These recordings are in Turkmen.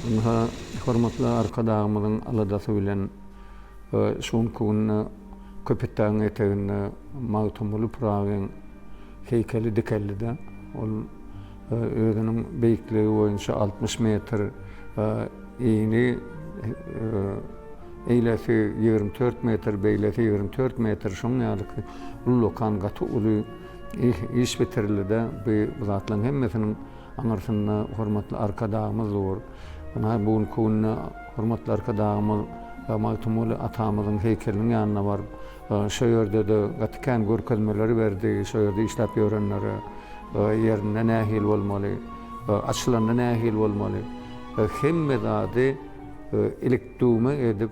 Ynha, hormatly Arkadagymyzyň aladasy bilen, Şu günki günde Köpetdagyň eteginde Magtymguly Pyragyň heýkeli dikeldi-de, ol özüniň beýikligi boýunça altmyş metr ini, eýlesi ýigrimi dört metr, beýlesi ýigrimi dört metr, şonuň ýaly ki, ullakan gaty uly iş bitirildi-de, bu zatlaryň hemmesiniň aňyrsynda hormatly Arkadagymyz dur. Ynha, bu günki günde. Hormatly Arkadagymyz Magtymguly atamyzyň heýkeliniň ýanyna baryp, şo ýerde-de gaty kän görkezmeleri berdi, şo ýerde işläp ýörenlere, ýerinde nähili bolmaly, açylanda nähili bolmaly, hemme zady ilik-düwme edip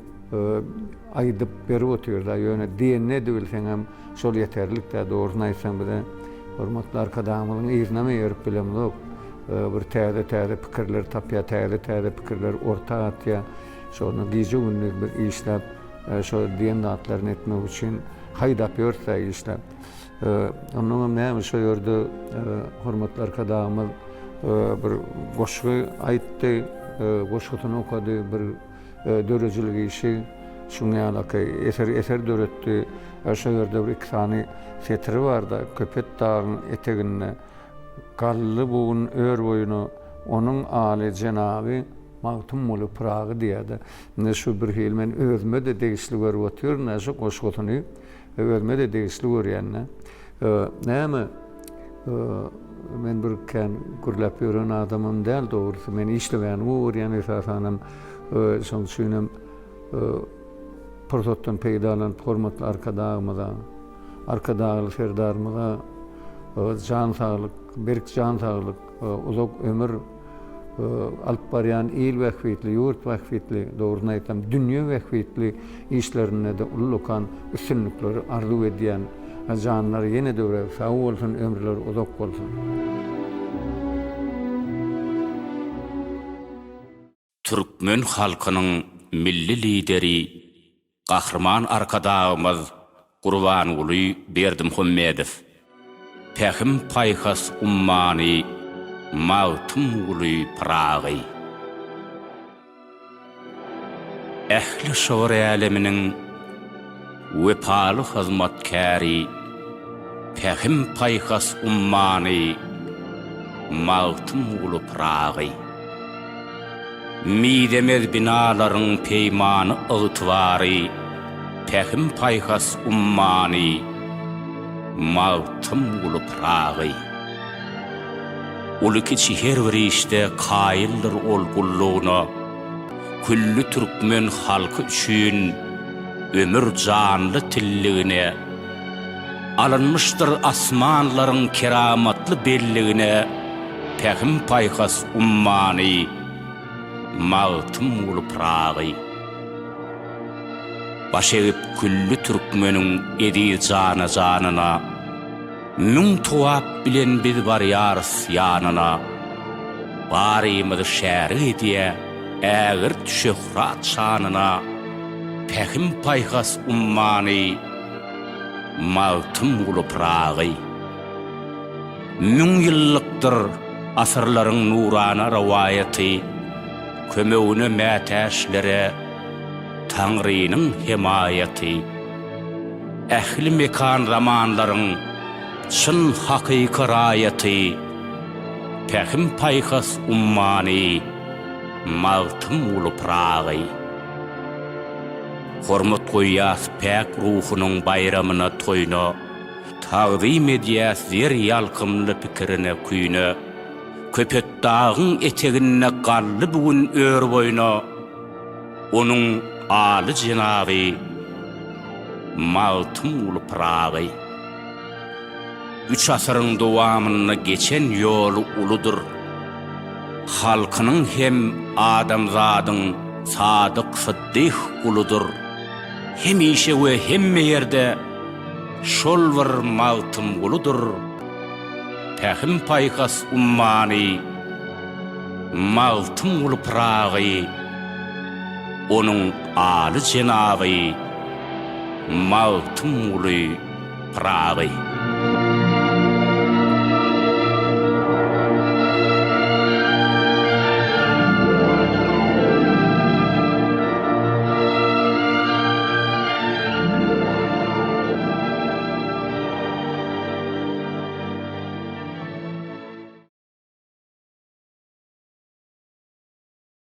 aýdyp berip otyrda, ýöne diýenini edibilseňem, Şol ýeterlik dä, dogrusyny aýtsam bize hormatly Arkadagymyzyň yzynam eýerip bilemzok. Bir täze-täze pikirleri tapýar, täze-täze pikirleri orta atýar. Şony gije-gündiz biz işläp, şo diýen zatlaryny etmek üçin haýdap ýörüs-ä işläp. Onnoňam näme şo ýerde hormatly Arkadagymyz bir goşgy aýtdy, goşgusyny okady, bir. döredijilik işi şunuň ýalyky eser eser döretdi. Şo ýerde bir iki sany setiri barda Köpet dagyň eteginde galdy bu gün ör boýuna onuň aly jenaby Magtymguly Pyragy diýýärdi. Indi şu bir hili men özüme-de degişli görüp otyryn-da şu goşgusyny. Özüme-de degişli görýän-de. Näme, men bir kän gürläp ýören adamam däl, dogrusy, men işlemäni gowy görýän, esasanam, şonuň üçinem pursatdan peýdalanyp, hormatly Arkadagymyza, Arkadagly Serdarymyza jan saglyk, berk jan saglyk, Uzak ömür alyp barýan il bähbitli, ýurt bähbitli, dogrusyny aýtsam, dünýe bähbitli işlerinde-de ullakan üstünlikleri arzuw edýän. Janlary ýene döwrebap sag bolsun, ömürleri uzak bolsun! Türkmen halkynyň Milli Lideri Gahryman Arkadagymyz Gurbanguly Berdimuhamedow Pähim-paýhas ummany Magtymguly Pyragy ähli şygyr äleminiň, Wepaly hyzmatkäri, Pähim-paýhas ummany, Magtymguly Pyragy. Mizemez binalaryň peýmany ygtybary, Pähim-paýhas ummany, Magtymguly Pyragy. Uly-kiçi her bir işde kaýyldyr ol gullugyna, külli türkmen halky üçin ömür janly tilligine, alynmyşdyr asmanlaryň keramatly belligine Pähim-paýhas ummany, Magtymguly Pyragy. Baş egip külli türkmeniň eziz jana-janyna. Müň towap bilen biz barýarys ýanyna, Barymyzy şärik edýä ägirt şöhrat şanyna, Pähim-paýhas ummany, Magtymguly Pyragy. Müň ýyllykdyr asyrlaryň nurana rowaýaty, Kömegine mätäçlere Taňrynyň hemaýaty. Ähli mekan zamanlaryň çyn hakyky raýaty, Pähim-paýhas ummany, Magtymguly Pyragy. Hormat goýýas päk ruhunyň baýramyna, toýuna, Tagzym edýäs zer ýalkymly pikirine, küýüne. Köpetdagyň eteginde galdy bu gün ör boýuna. Onuň aly jenaby Magtymguly Pyragy üç asyryň dowamynda geçen ýoly uludyr halkynyň hem adamzadyň Sadyk Syddyh uludyr hemişe we hemme ýerde şol bir Magtymguludyr Pähim-paýhas ummany Magtymguly Pyragy Onuň aly jenaby Magtymguly Pyragy.